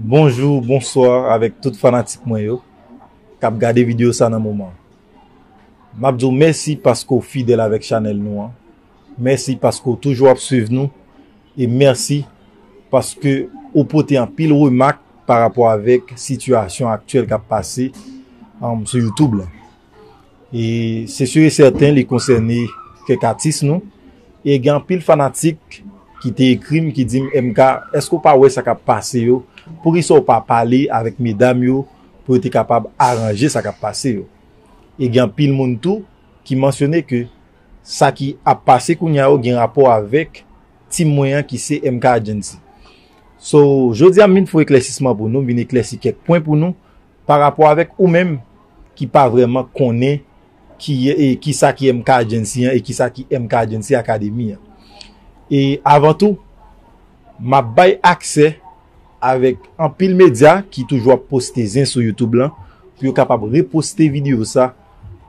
Bonjou, bonswa avèk tout fanatik mwen yo kap gade video sa nan moman. Map di w mèsi paske w fidèl avèk chanèl nou an. Mèsi paske w toujou ap swiv nou e mèsi paske ou pote anpil remak pa rapò avèk sitiyasyon aktyèl kap pase sou youtube lan. E se sur e sèten li konsène kèk atis nou. E gen anpil fanatik ki te ekri m ki di m MK, èske ou pa wè sa k ap pase yo? Poukisa ou pa pale avèk medam yo pou yo te kapab aranje sa k ap pase yo? E gen anpil moun tou ki mansyone ke sa ki ap pase kounye a yo gen rapò avèk team mwen an ki se MK Agency. So, jodi a m vin fè yon eklèsisman pou nou, m vin eklèsi kèk pwen pou nou. Pa rapò avèk ou menm ki pa vrèman konnen ki sa ki MK Agency an e ki sa ki MK Agency Academy an. E avan tou, m ap bay aksè avèk anpil medya ki toujou ap poste zen sou YouTube lan pou yo kapab reposte videyo sa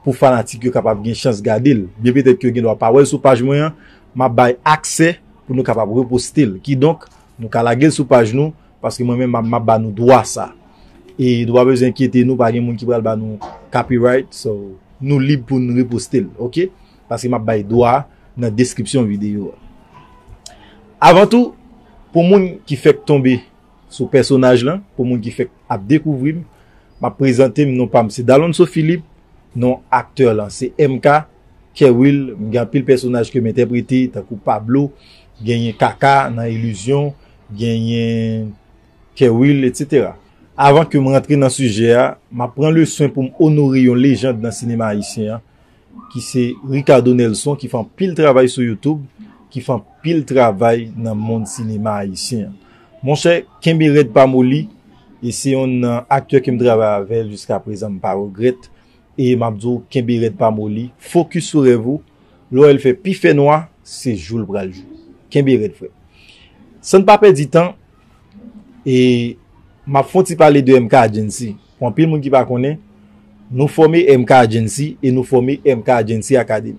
pou fanatik yo kapab gen chans gade l. Byen petèt ke yo gen dwa pa wè l sou paj mwen an, m ap bay aksè pou nou kapab reposte l. Kidonk, nou ka lage l sou paj nou, Paske mwen menm map ba nou dwa sa. E nou pa bezwen enkyete nou pa gen moun ki pral ba nou copyright so nou lib pou nou reposte l ok. Paske map bay dwa nan deskripsyon videyo a. Avan tou pou moun ki fèk tonbe sou pèsonaj lan, pou moun ki fèk ap dekouvri m, map prezante m non pa m se Dalonso Philippe, non aktè lan se MK, Kerwill, m gen anpil pèsonaj ke m entèprete tankou Pablo, genyen Kaka nan Illusion, genyen Kerwill etc. Avan ke m rantre nan sijè a, m ap pran le swen pou m onore yon lejand nan sinema ayisyen an ki se Ricardo Nelson ki fè anpil travay sou YouTube, ki fè anpil travay nan mond sinema ayisyen an. Monchè, kenbe rèd pa moli, e se yon nan aktè ke m travay avè l jiska prezan m pa regrèt. E map di w kenbe rèd pa moli, focus sou rèv ou, lè w wè l fè pi fè nwa, se jou l pral jou. Kenbe rèd frè m. San n pa pèdi tan, e map fon ti pale de MK Agency, pou anpil moun ki pa konnen, nou fòme MK Agency e nou fòme MK Agency Academy.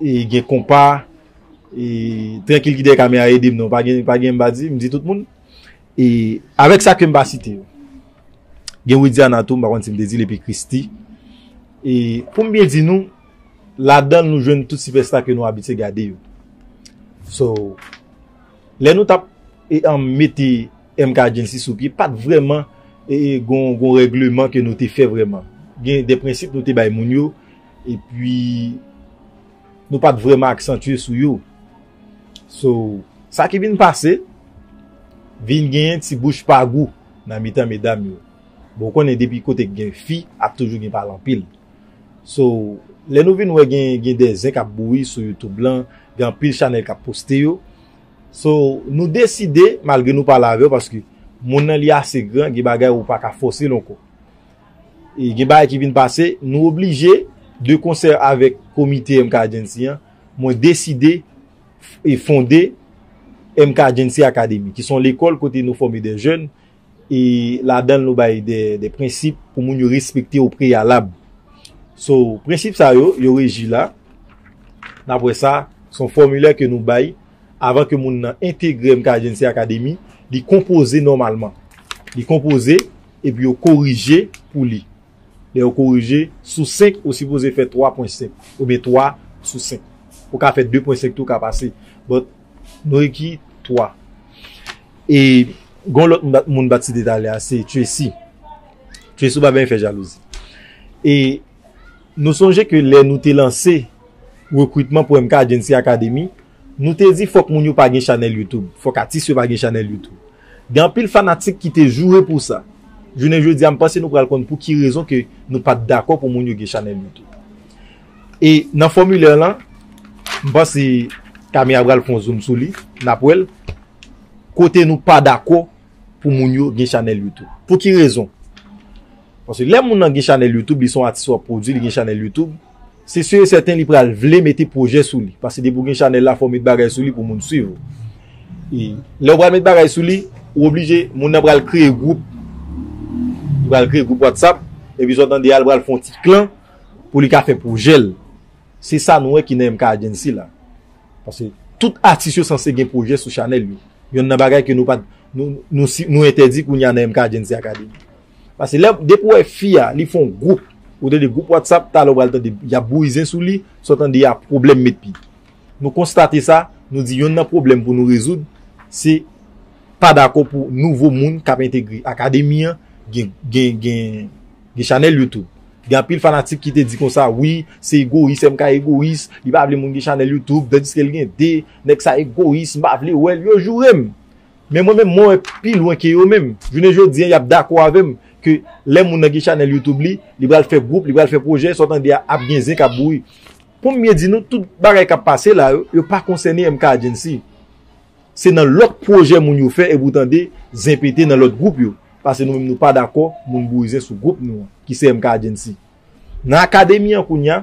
gen konpa e trankil ki dèyè kamera ede m non pa gen pa gen m pa di m di tout moun e avèk sa ke m pa site yo gen widiana tou m pa konn si m te di l epi christy e pou m byen di nou ladan l nou jwenn tout sipèsta ke nou abitye gade yo so lè nou tap e an mete MK Agency sou pye pat vrèman e gon gon règleman ke nou te fè vrèman gen de prensip nou te bay moun yo Epi nou pat vrèman aksantye sou yo. So, sa ki vin pase, vin genyen ti bouch pa gou nan mitan medam yo. Bon, ou konnen depi kote ki gen fi, ap toujou gen pale anpil. So, lè nou vin wè gen de zen kap bouyi sou YouTube lan, gen anpil chanèl kap poste yo. So, nou deside, malgre nou pale avè yo, paske moun nan li ase gran, gen bagay ou paka fòse l ankò. e gen bagay ki vin pase, nou oblije, de konsè avèk komite MK Agency an, mwen deside e fonde MK Agency Academy, ki son lekòl kote nou fòme de jèn, e ladan l nou bay de prensip pou moun yo respekte o preyalab. So, prensip sa yo, yo reji la, n ap wè sa, son fòmilè ke nou bay, avan ke moun nan entegre MK Agency Academy, li konpoze nòmalman. Li konpoze. Epi yo korije pou li. Lè yo korije, sou 5, ou sipoze fè 3 pwen 5. Oubyen 3 sou 5. Ou ka fè 2 pwen 5 tou ka pase. But, nou ekri 3. E, gon lòt moun bat site talè a, se Tracy. Tracy ou pa benyen fè jalouzi. E, nou sonje ke lè nou te lanse rekrutman pou MK Agency Academy, Nou te di fòk moun yo pa gen chanèl YouTube, fòk atis yo pa gen chanèl YouTube. Gen anpil fanatik ki te joure pou sa. Jounen jodi a m panse nou pral konn pou ki rezon ke nou pa t dakò pou moun yo gen chanèl YouTube. E nan fòmilè lan, m panse Camille a pral fè yon zoom sou li, n ap wè l, kote nou pa dakò pou moun yo gen chanèl YouTube. Pou ki rezon? Paske lè moun lan gen chanèl YouTube, li se yon atis w ap pwodui, li gen chanèl YouTube, Se sur et certain li pral vle mete projè sou li. Paske depi ou gen chanèl la fò ou met bagay sou li pou moun swiv ou. E lè ou pral met bagay sou li, ou oblije moun nan pral kreye gwoup. Li pral kreye gwoup WhatsApp. E pi sa w tande a li pral fè yon ti klan pou li ka fè projè l. Se sa nou wè ki nan MK Agency la. Paske tout atis yo sanse gen projè sou chanèl yo. Yonn nan bagay ke nou pa nou entèdi kounye a nan MK Agency Academy. Pase lè depi ou wè fi a li fon group ou tande group WhatsApp talè ou pral tande yap bouzen sou li sa w tande a pwoblèm met pi nou konstate sa nou di yonn nan pwoblèm pou nou rezoud se pa dakò pou nouvo moun kap entegre akademi an gen gen gen chanèl YouTube gen anpil fanatik ki te di konsa wi se egoyis MK egoyis li pa vle moun gen chanèl YouTube tandiske l gen 2 nèg sa egoyis m pa vle wè l yo joure m. Men mwen menm mwen wè pi lwen ke yo menm. Jounen jodi an y ap dakò avè m ke lè moun nan gen chanèl YouTube li, li pral fè gwoup, li pral fè pwojè, sa w tande a ap gen zen k ap bouyi. Pou m byen di nou, tout bagay k ap pase la yo, yo pa konsène MK Agency. Se nan lòt pwojè moun yo fè epi w tande zen pete nan lòt gwoup yo. Pase nou menm nou pa dakò moun bouyi zen sou gwoup nou an ki se MK Agency. Nan akademi an kounya,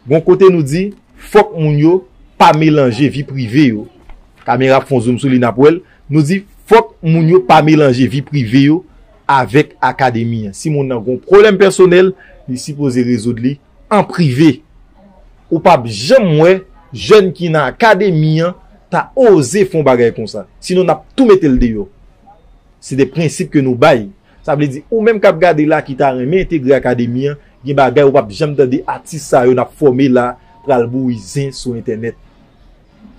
gon kote nou di fòk moun yo pa melanje vi prive yo, kamera ap fon zoum sou li nap wèl, nou di fòk moun yo pa melanje vi prive yo avèk akademi an. Si moun nan gon pwoblèm pèsonèl, li sipoze rezoud li an prive. Ou pap janm wè jèn ki nan akademi an ta oze fon bagay konsa. Sinon nap tou metel deyò. Se de prensip ke nou bay. Sa vle di ou menm kap gade la ki ta renmen entegre akademi an gen bagay ou pap janm tande atis sa yo nap fòme la pral bouyi zen sou entènèt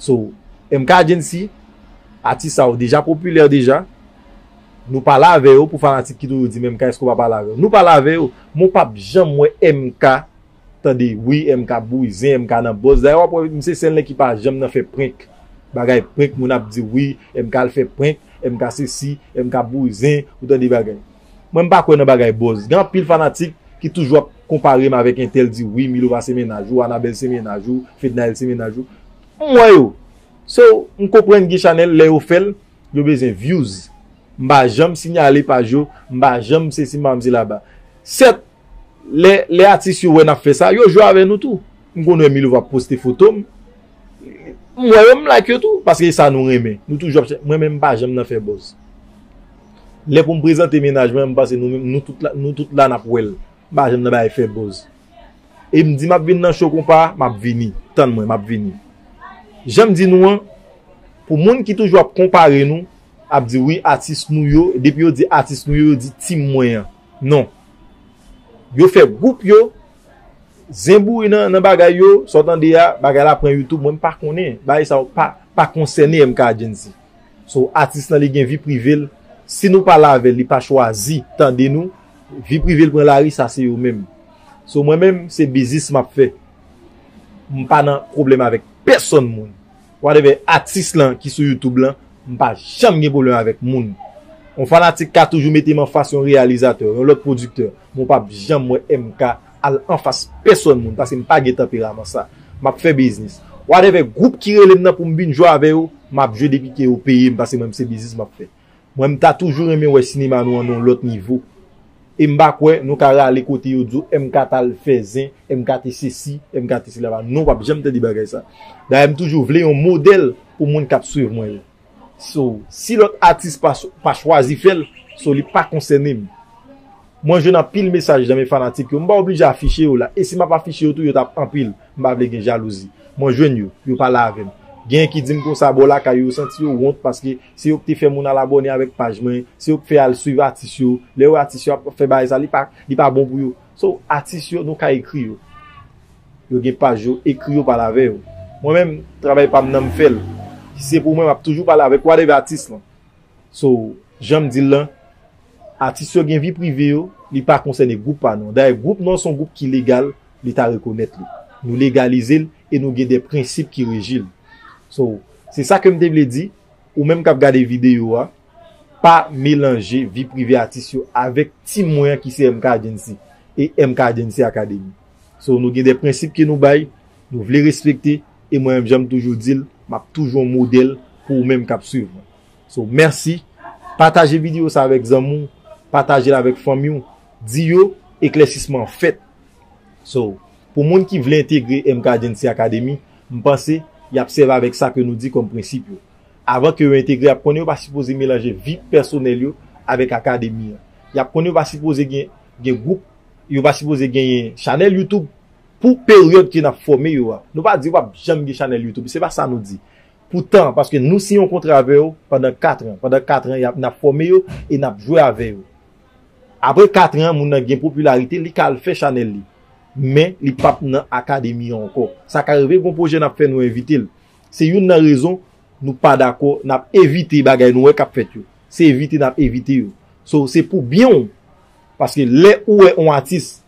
so MK Agency atis sa yo deja popilè deja nou pale avè yo pou fanatik ki toujou di men MK èske ou pa pale avè yo nou pale avè yo men ou pap janm wè MK tande wi MK bouzen MK nan bòz dayè wap wè misye sèl nèg ki pa janm nan fè prenk bagay prenk moun ap diw wi MK al fè prenk MK sesi MK bouzen ou tande bagay mwen mpa kwè nan bagay bòz gen anpil fanatik ki toujou ap konparem avèk entèl di wi milova se mennaj ou anabèl se mennaj ou fednaelle se mennaj ou m wè yo so mkonprann gen chanèl lè yo fèl yo bezwen vyouz mpa janm sinyale paj yo mpa janm sesi mpa janm se laba sèt Lè atis yo wè nap fè sa, yo jwe avè nou tou. M konn wè Milova ap poste foto m. M wè yo m like yo tou. Paske e sa nou renmen. Nou toujou ap chèche. Mwen menm m pa janm nan fè buzz. Lè pou m prezante mennaj mwen, m panse nou tout la nap wè l. M pa janm nan bagay fè buzz. E m di map vin nan show konpa a, map vini. Tann mwen, map vini. Jan m di nou an, pou moun ki toujou ap konpare nou, ap di wi atis nou yo, depi yo di atis nou yo, yo di team mwen an. Non. Yo fè group yo Zen bouri nan bagay yo Sa w tande a Bagay la pran youtube Mwen m pa konnen Bagay sa yo pa konsène MK Argency So atis lan li gen vi prive l Si nou pale avè l li pa chwazi tande nou Vi prive l pran lari sa se yo menm So mwen menm se biznis m ap fè M pa nan pwoblèm avèk pèsòn moun Whatever atis lan ki sou youtube lan m pa janm gen pwoblèm avèk moun. Yon fanatik ka toujou mete m anfas yon reyalizatè, yon lòt pwodiktè, men w pap janm wè MK al anfas pèsòn moun paske m pa gen tanperaman sa. M ap fè biznis. Whatever gwoup ki rele m nan pou m vin jwe avè yo, m ap jwe depi ke yo peye m paske mwen m se biznis m ap fè. Mwen m ta toujou renmen wè sinema nou an nan yon lòt nivo e m pa kwè nou ka rale kote yo di w MK t al fè zen, MK te sesi, MK te sela pa non w ap janm tande bagay sa dayè m toujou vle yon modèl pou moun k ap swiv mwen yo so si lòt atis pa chwazi fè l so li pa konsène m. Mwen jwenn anpil mesaj nan men fanatik yo, m pa oblije afiche yo la, e si m ap afiche yo tou yo t ap anpil, m pa vle gen jalouzi. Mwen jwenn yo, yo pale avè m. Genyen ki di m konsa bò lakay yo santi yo wont paske se yo k te fè moun al abòne avèk paj mwen, se yo k fè al swiv atis yo, lè yo wè atis yo ap fè bagay sa li pa li pa bon pou yo. So, atis yo nou ka ekri yo. Yo gen paj yo, ekri yo pale avè yo. Mwen menm, travay pa m nan m fè l. Si se pou mwen m ap toujou pale avèk whatever atis lan. So, jan m di l lan, atis yo gen vi prive yo, li pa konsène gwoup pa nou an. Dayè, gwoup nou an se yon gwoup ki legal, Leta rekonèt li. Nou legalize l e nou gen de prensip ki reji l. So, se sa ke m te vle di, ou menm k ap gade videyo a, pa melanje vi prive atis yo avèk team mwen an ki se MK Agency e MK Agency Academy. So, nou gen de prensip ke nou bay, nou vle respekte. e mwen menm janm toujou dil map toujou yon modèl pou ou menm kap swiv mwen so mèsi pataje video sa avèk zanmi w patajel avèk fanmi w di yo eklèsisman an fèt so pou moun ki vle entegre MK Agency Academy m panse yap sèvi avèk sa ke nou di kòm prensip yo avan ke yo entegre yap konnen yo pa sipoze melanje vi pèsonèl yo avèk akademi an yap konnen yo pa sipoze gen gen gwoup yo pa sipoze genyen chanèl youtube Pou peryòd ke nap fòme yo a. Nou pa di pap janm gen chanèl youtube. Se pa sa nou di. Pou tan. Paske nou siyen yon kontra avè yo pandan 4 tran. Pandan 4 tran yap nap fòme yo e nap jwe avè yo. Apre 4 tran moun nan gen popilarite li ka al fè chanèl li. Men li pap nan akademi an ankò. Sa ka rive gon pwojè nap fè nou envite l. Se youn nan rezon nou pa dakò nap evite bagay nou wè kap fèt yo. Se evite nap evite yo. So se pou byen w. Paske lè ou wè yon atis.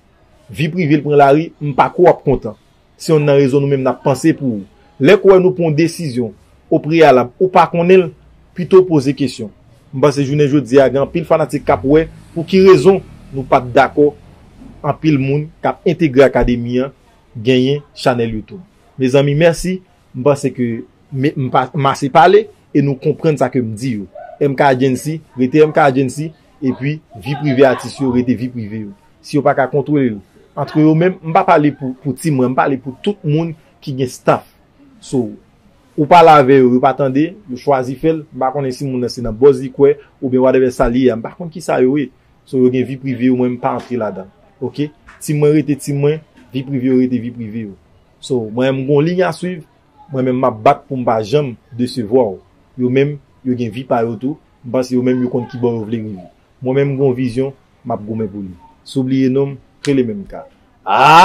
Vi prive l pran lari, m pa kwè w ap kontan. Se yonn nan rezon nou menm n ap panse pou ou. Lè k wè nou pran yon desizyon o preyalab ou pa konnen l, pito w poze kesyon. M panse jounen jodi a gen anpil fanatik k ap wè pou ki rezon nou pa t dakò anpil moun k ap entegre Akademi an genyen chanèl Youtube. Mezanmi mèsi, m panse ke m ase pale e nou konprann sa ke m di yo. MK Agency rete MK Agency Epi vi prive atis yo rete vi prive yo. Si yo pa ka kontwole l antre yo menm, m pa pale pou ti mwen, m pale pou tout moun ki gen staff sou ou pale avè yo, yo pa tande, yo chwazi fè l, m pa konnen si moun nan se nan buzz li kwè oubyen whatever sa li ye a, m pa konn kisa yo ye. So yo gen vi prive yo mwen m pa antre ladan ok. Team mwen rete team mwen, vi prive yo rete vi prive yo. So mwen menm m gon ligne a swiv, mwen menm m ap bat pou m pa janm desevwa w. Yo menm yo gen vi pa yo tou, M panse yo menm yo konn kibò yo vle rive. Mwen menm m gon vizyon map goumen pou li. Si w bliye non m, rele menm ka. Aayy!